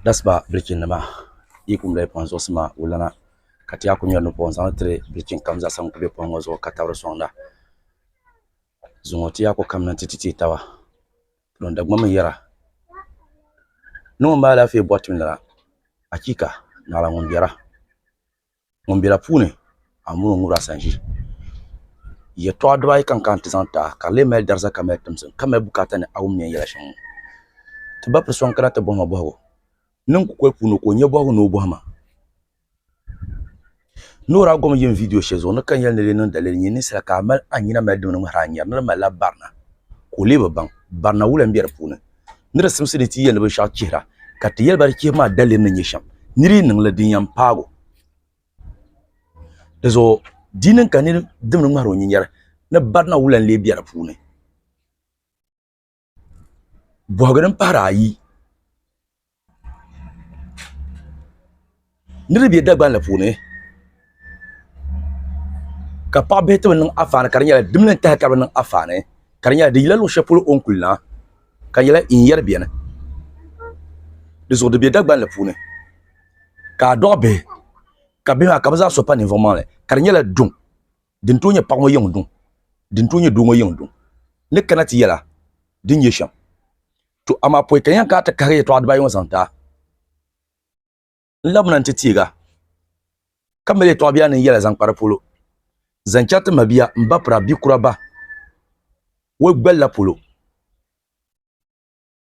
Dasiba bilichi nima yi kum lahi kpaŋ zuɣusi maa wulana ka ti yaa ku ŋmeri nu'pɔŋ zaŋ tiri bilichi kam zaa sa ŋun kuli be pɔŋ ŋɔ zuɣu ka tabiri sɔŋda zuŋɔ ti yaa ku kamina nti ti teei taba din Dagbaŋ mi yɛra ni ŋun mali alaafee bɔri ti nira achiika! Naawuni ŋun bera. Ŋun bɛ la puuni a mini o ŋubira a sanʒi yɛltɔɣa dibaayi ka n kana ti zaŋ ti a ka di lee mali dariza ka mali timsim ka mali bukaata ni a wum ni yɛn yɛla shɛm ŋɔ ti ba piri so n kana ti bɔhi ma bɔhigu niŋ kukoli puuni ka o nyɛ bɔhigu ni o bɔhi ma ni o daa gom yim viidiyo shɛli zuɣu ni ka n yɛli ni di lee niŋ dalili nyini ninsala ka a mali a nyina mali dimni ŋmahiri a nyɛri ni di malila barina ka o lee bi baŋ barina wula n bɛ di puuni ni di simsi ni ti yɛli binshɛɣu chihira ka ti yɛli ba di chihibu maa daliri ni nyɛ shɛm ni di niŋli din yɛn paagi o di zuɣu di niŋ ka niri dimdi ŋmahiri o nyinyɛri ni barina wula n-lee be di puuni bɔhigi din pahiri ayi Niraba bɛ dagban la puuni ka paɣa bihi ti bi niŋ anfaani ka di nyɛla dimini n taha ka bi niŋ anfaani ka di nyɛla di yila luɣu shɛli polo o ni kuli na ka di nyɛla in yɛri biɛni dizuɣu di bɛ dagban la puuni ka a dɔɣi bihi ka bihi maa ka bi zaa so pa ninvuɣu maŋli ka di nyɛla duŋ din tooi nyɛ paɣa ŋɔ yiŋ duŋ din tooi nyɛ doo ŋɔ yiŋ duŋ ni kana ti yɛla din nyɛ shɛm To amaa pɔi ka yɛn kana ti kahiri yɛtɔɣa dibaayi ŋɔ zaŋ daa. N labina nti teega, ka mali yɛtɔɣa biɛla ni n yɛla zaŋ kpa di polo, zaŋ chɛri ti mabia, m ba pira, bi kura ba, woli gbali la polo.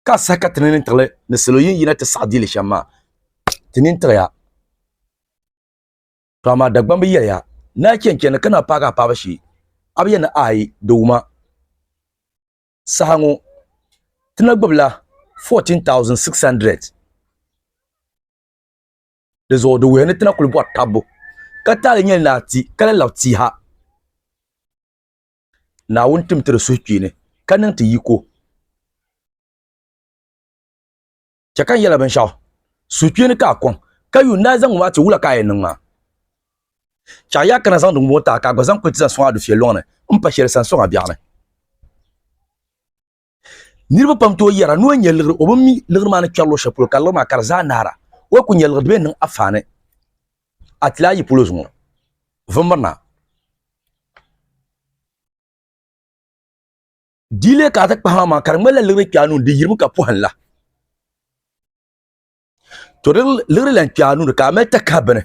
Ka a sahi ka ti nini tiɣili ni salo yin yina ti saɣi diili shɛm maa? Ti nini tiɣiya. To amaa Dagbamba yɛliya, Naa chɛnchɛnli ka naa paagi a paɣiba shee, a bi yɛn ni aai di wuma. saha ŋɔ ti na gbibila 14,600 di zuɣu di wuhi ni ti na kuli bɔri tabbu ka taali nyɛli ni a ti ka lahi labi tia ha Naawuni tim ti di suhukpeeni ka niŋ ti yiko. chɛ ka n yɛla binshɛɣu suhukpeeni ka a kɔŋ ka yuun daa zaŋ ŋɔ a ti wula ka a yɛn niŋ maa. Chɛ a yi a kana zaŋdi ŋɔ ti a ka a gba zaŋ kuli ti zaŋ sɔŋ a dufia lɔŋ ni m-pa shɛli sani sɔŋ a biɛɣu ni. Niriba pam tooi yɛra ni o nya liɣiri o bi mi liɣiri maa ni kpɛri luɣ shɛli polo ka liɣiri maa ka di zaa naara. O yi ku nya liɣiri di bi yɛn niŋ a faani. A ti lahi yi polo zuŋɔ vimbirina. dile ka ti kpahi maa ka di ŋmanila liɣiri kpɛɣu nuuni di yirimi ka pɔhimla to di liɣiri lan kpɛɣu nuuni ka a mali takahi bini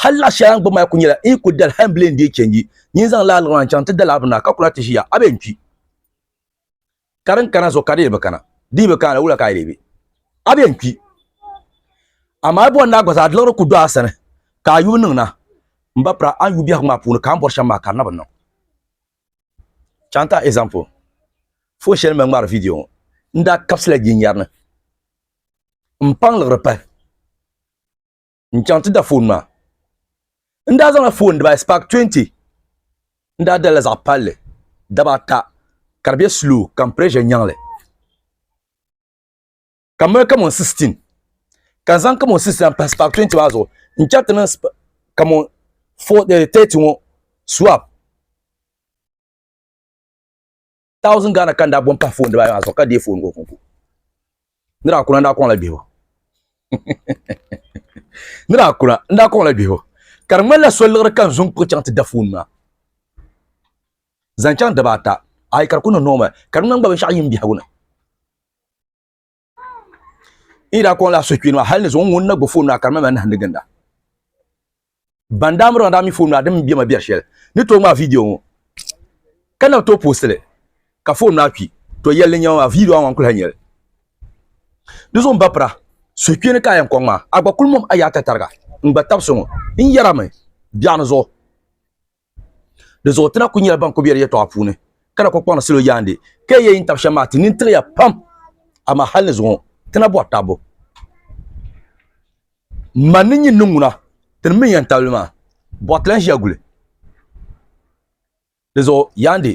hali laɣ shɛli a ni gbubi maa ku nyɛla n yi ku dali hali n bile n deei chɛnji nyin zaŋ laa liɣiri maa n chaŋ ti dali a bini na ka kula ti ʒiya a bee n kpi ka din kana zuɣu ka di yi bi kana di yi bi kana wula ka a yi lee be a bee n kpi amaa a bɔri ni a gba zaa di liɣiri ku do a sani ka a yubu niŋ na n ba pira a ni yubu biɛhigu maa puuni ka a ni bɔri shɛm maa ka di na bi niŋ Chanta example, Fon shɛli mali ŋmaari viidiyo ŋɔ, n daa kabisila jinyari ni m-paŋ liɣiri pahi n-chaŋ ti da fon maa. N daa zaŋla fon dibayi Spark 20 n daa dali la zaɣ palli daba ata ka di be slow ka m pirɛʒɛ nyaŋ li. ka mali kamon 16 ka n zaŋ kamon 16 pahi spak 20 maa zuɣu n chɛri ti niŋ kamon 30 ŋo swap thousand ghana ka n daa bom pahi foon dibaayi maa zuɣu ka deei foon ŋo kunku ni daa kuna n daa koŋla bihibu ni daa kuna n daa koŋla bihibu ka di ŋmanila so liɣiri ka n zuŋ kpuɣi chaŋ ti da foon maa zaŋ chaŋ daba ata ayi ka di ku niŋ nooma ka di ŋmani gba binshaɣu yim biɛhagu ni i da kɔŋ la suhukpini maa hali ni zuɣu ŋun na gbubi foon maa ka di mali nahindi ginda ban daa miri daa mi foon maa din bɛ ma bɛ shɛli ni to ŋmaa viidiyo ŋo ka na to postili ka foon maa kpi to yɛli din nyɛma maa viidiyo maa ŋan kuli ha nyɛli di zuɣu n ba pira suhukpini ka a yɛn kɔŋ maa a gba kuli mom a yaata tariga n gba tabisi ŋo n yɛrami biɛɣuni zuɣu Di zuɣu ti na ku nyɛla ban ku bɛ di yɛtɔɣa puuni ka na ku kpaŋdi salo yaandi ka yi yɛn yi ni tabi shɛm maa ti nini tiɣiya pam amaa hali ni zuŋɔ ti na bɔri tabu man ni nyin ni ŋuna ti ni mi yɛn tabili maa bɔɣa ti lan ʒiya guli di zuɣu yaandi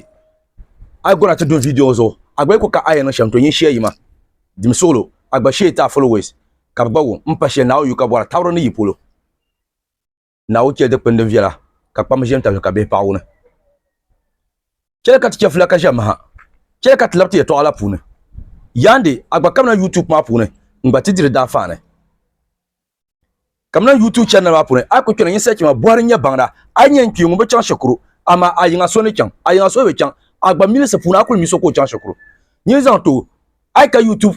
a yi gona ti dun viidiyo ŋɔ zuɣu a gba yi ku ka a yɛn niŋ shɛm to nyin shɛya yima dim suɣulo a gba shee ti a followers ka bi gba wum n pa shɛli Naawuni yu ka bɔra tabiri ni yi polo Naawuni chɛli dikpini din viɛla ka kpamba ʒɛ n-tabi li ka bihi paɣi wuni. Chɛli ka ti chɛfila ka ʒɛ maha. Chɛli ka ti labi ti yɛtɔɣa la puuni. Yaandi, a gba kamina YouTube maa puuni n-gba ti diri daanfaani. Kamina YouTube channel maa puuni, a yi ku kpɛna nyin search ma Buhari n-nyɛ baŋda, a yi nya n-kpi ŋun bi chaŋ shikuru, amaa a yiŋa so ni chaŋ, a yiŋa so bi chaŋ, a gba milisi puuni a kuli mi so ka o chaŋ shikuru. Nyin zaŋ tooi, a yi ka YouTube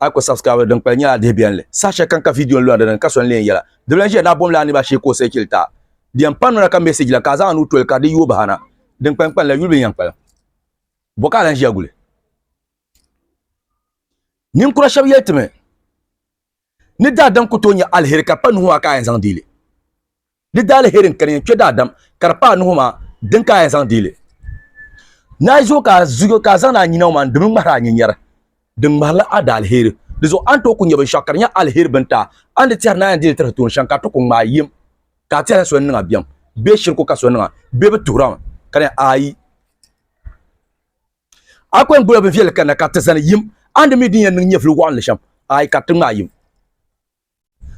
a ko subscribe din kpali nyɛla dihi biɛnli saha shɛli kam ka vidiyo n lɔri dini ka so n leen yɛla di bɛla ʒiya daa bom la niriba shee ka o sɛ chili taa di yɛn pam nuna ka message la ka a zaŋ a nuu toli ka di yooi bahi na din kpani kpani la yuli bi yɛn kpalim bɔ ka a lan ʒiya guli ninkura shɛba yɛli ti mi ni daadam ku tooi nyɛ aliheri ka pa nuhi maa ka a yɛn zaŋ deeli Di daaliheri n kani yɛn kpe daadam ka di paai nuhi maa din ka a yɛn zaŋ deeli. Naai zuɣu ka a zuyo ka a zaŋdi a nyina ŋɔ maa n-dim n-ŋmahiri a nyinyɛri. Di ŋmahirila a daaliheri. Di zuɣu a ni tooi ku nya binshɛɣu ka di nyɛ aliheri bini taai, a ni di tɛhiri ni a yɛn deeli tiri tooni shɛm ka a ti ku ŋmaai yim ka a tɛhila so ni niŋ a biɛm bee shiriku ka so niŋ a bee bi tuhir a mi ka di yɛn aai a ku yɛn gbila binviɛlli kanna ka ti zani yim a ni di mi din yɛn niŋ nyɛvili wɔɣinli shɛm aai ka ti ŋmaai yim.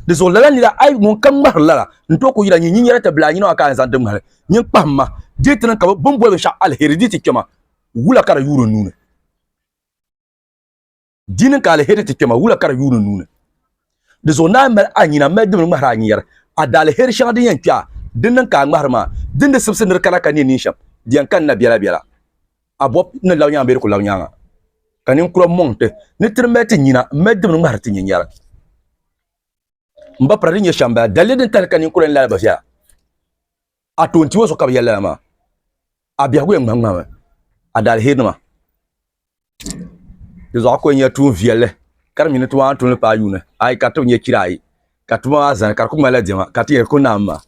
Di zuɣu lala nira ai ŋun ka ŋmahiri lala n tooi ku yira nyin nyin yɛra ti bila nyina maa ka a ni zaŋ ti ŋmahiri nyin kpahim ma dii ti niŋ ka bini boli binshɛɣu aliheri dii ti kpɛma wula ka di yuuri n nuuni dii niŋ ka aliheri ti kpɛma wula ka di yuuri n nuuni di zuɣu naai mali a nyina mali dimli ŋmahiri a nyin yɛri a daaliheri shɛŋa din yɛn kpɛ a din niŋ ka a ŋmahiri maa din di sibisi nir kana ka ne nin shɛm di yɛn kani na biɛla biɛla A bɔb ni lab nyaaŋa bee di ku lab nyaaŋa, ka ninkura mɔŋ ti ni ti di mali ti nyina m-mali dimni ŋmahiri ti nyinyara. M ba pira din nyɛ shɛm bala, daliri din kahiri ka ninkura ni lala bi viɛla. A tooi n-ti o zuɣu ka bi yɛli lala maa. A biɛhigu yɛn ŋmahiŋmahimi a daalihirnima. Di zuɣu a ku yɛn nyɛla tuun viɛlli ka di mi ni ti waani tuun li paai yuuni ayi ka di ti bi nyɛ chira ayi. ka tuma maa zani ka di ku ŋmanila diɛma ka ti yɛn ku naam maa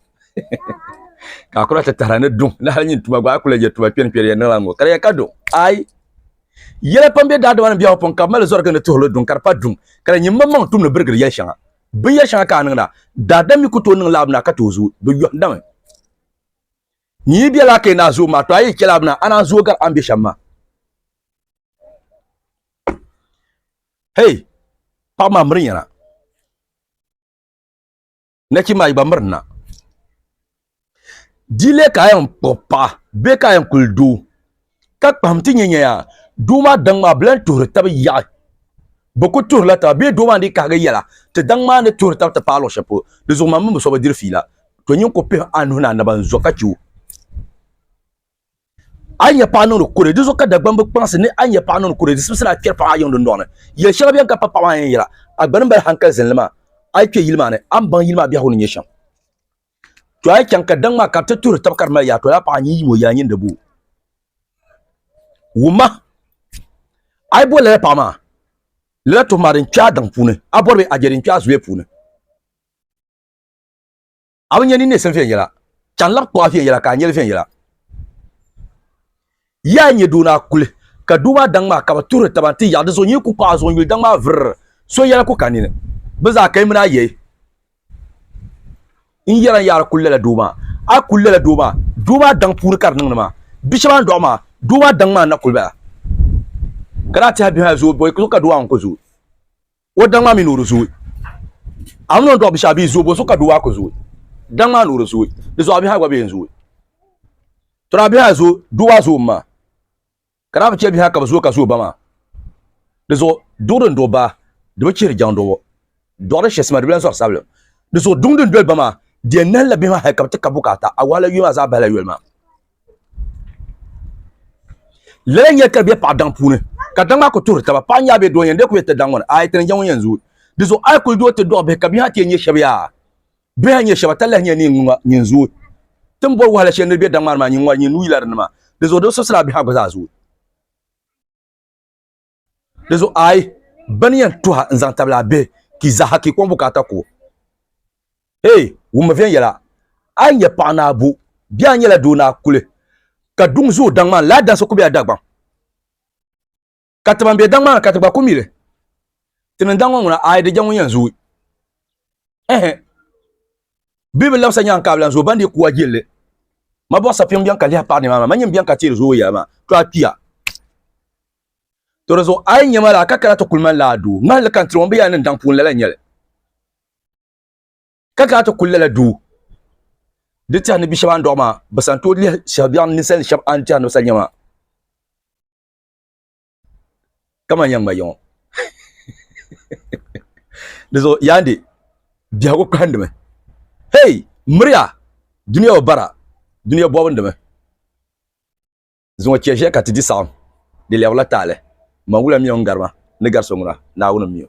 ka a kula ti tahara ni duŋ ni hali nyin tuma gba a kula yɛ tuma kpɛri kpɛri yɛn niŋla ŋɔ ka di yɛn ka duŋ ayi yɛla pam bɛ daadama ni biɛhagu pɔŋ ka bi mali zɔrigi ni tuhili duŋ ka di pa duŋ ka di nyɛ maŋmaŋ tum ni birigiri yɛli shɛŋa binyɛri shɛŋa ka a niŋda daadam mi ku tooi niŋla abina ka tooi zooi bi yɔhindami nyi yi bɛla ka yi naa zooi maa to a yi chɛla abina a naa zooi gari a ni bɛ shɛm maa hei paɣa maa miri nyɛna nachimbi ayi gba mirina dilee ka a yɛn kpuɣi paɣa bee ka a yɛn kuli doo ka kpaham ti nyɛ nyɛya doo maa daŋ maa bi lahi tuhuri tabi yaɣa bi ku tuhurila taba bee doo maa ni dii kahagi yɛla ti daŋ maa ni tuhuri tabi ti paai luɣu shɛli polo di zuɣu maa mini bi so bi diri fiila to nyin ku pihi a nuhi ni a naba n zo ka chɛ o a nya paɣa niŋdi kure di zuɣu ka dagbani bi kpaŋsi ni a nya paɣa niŋdi kure di sibisira a kpɛri paɣa a yiŋ dundɔŋ ni yɛli shɛŋa bɛn ka pa paɣa maa yɛn yɛla a gbani mali hankali zinli maa a yi kpɛ yili maa ni a ni baŋ yili maa biɛhigu ni nyɛ shɛm to a yi chaŋ ka daŋ maa ka bi ti tuhiri taba ka di mali yaa tola paɣa nyin yimo yaa nyin di boo wumma a yi boli lala paɣa maa lala tuhu maa din kpɛ a daŋ puuni a bɔri bɛ a je din kpɛ a zuliya puuni a bi nya ni nesim viɛnyɛla, ka n labi kpuɣa viɛnyɛla ka a nyɛli viɛnyɛla. Yaa nyɛ doo ni a kuli ka doo maa daŋ maa ka bi tuhiri taba nti yaɣi di zuɣu nyin ku kpuɣi a zuɣu n-yuli daŋ maa virr so yɛla ku ka nini. Bɛ zaa ka yi mini a yɛi n yɛra n yaa di kuli lala doo maa, a kuli lala doo maa, doo maa daŋ puuni ka di niŋdi maa. Bi shɛba a ni dɔɣi maa, doo maa daŋ maa n-na kuli bala. Ka daa tɛhi bihi a zooi bɔi zuɣu ka doo maa ŋun ku zooi. O daŋ maa mi ni o di zooi. A mi ni o ni dɔɣi bishaɣu bia zooi, bonso ka doo maa ku zooi? Daŋ maa ni o di zooi. Di zuɣu a bihi a gba bee n zooi. Tɔra a bihi a zooi, doo maa zooi m-maa. Ka daa bi chɛ bihi a ka bi zooi ka zooi ba maa. Di zuɣu duɣu din duɣi baa, di bi chihiri jaŋdɔbo. Dɔɣu din shɛsima, di bi lan zɔri sabilim. Di zuɣu duŋ din doli ba maa, di yɛn nahilla bihi maa hal ka bi ti ka bukaata. A wahala yuya maa zaa bahila yoli maa. lala nyɛ ka bɛ paɣa daŋ puuni ka daŋ maa ku tuhiri taba paɣa nyaa bɛ doo yɛn dee ku yɛ ti daŋ ŋɔ ni ayi tini jɛŋɔ yɛn zooi di zuɣu ayi kuli doo ti dɔɣi bihi ka bihi maa ti yɛn nyɛ shɛba yaa bihi a nyɛ shɛba ta lahi nyɛ ni nyin zooi tin boli wahala shɛli ni bɛ daŋ maa ni maa nyin ŋɔri nyin nuu yila di ni maa di zuɣu di bi sɔsira bihi a gba zaa zooi Di zuɣu a yi ba ni yɛn tuha n-zaŋ tabili a bihi ka yi zaaha ka yi kɔŋ bukaata ku o. Hee, wummi viɛnyɛla! A yi nyɛ paɣ ni a bu, bee a nyɛla doo ni a kuli ka duŋ zooi daŋ maa ni, lala dansi ku be a Dagbaŋ. Ka ti ban be daŋ maa ni ka ti gba ku mi li. Ti ni daŋ ŋɔ ŋuna, a yi di jɛŋ ŋun yɛn zooi. Ɛhɛ! Bɛ bi labisa nyaŋ ka a bi lan zooi ban dii ku a jilli. Ma bɔɣu sapiŋ bɛn ka lihi paɣ ni maa maa, ma nyini bɛn ka teeri zooi yɛla maa, to a kpiya. To di zuɣu a yi nya ma laa ka kana ti kuli mani laa duu, ŋmahi li ka n tiri ŋɔ bɛ yaa ni n daŋ puuni lala n-nyɛ li. Ka kana ti kuli lala duu di tɛha ni bi shɛba a ni dɔɣi maa, bɛ sani tooi lɛhi shɛhibiɛɣu ninsali shɛba a ni tɛha ni bɛ sani nya maa ka mani yɛn ŋma yiŋɔ. Di zuɣu Yaande biɛhigu kahindimi, Hey! Miriya! Dunia o bara, dunia bɔbindimi. Zuŋɔ chɛ ʒiya ka ti di saɣim, di lɛbirila taali. Man wula mi o ni gari ma, ni gari so ŋuna? Naawuni m-mi o.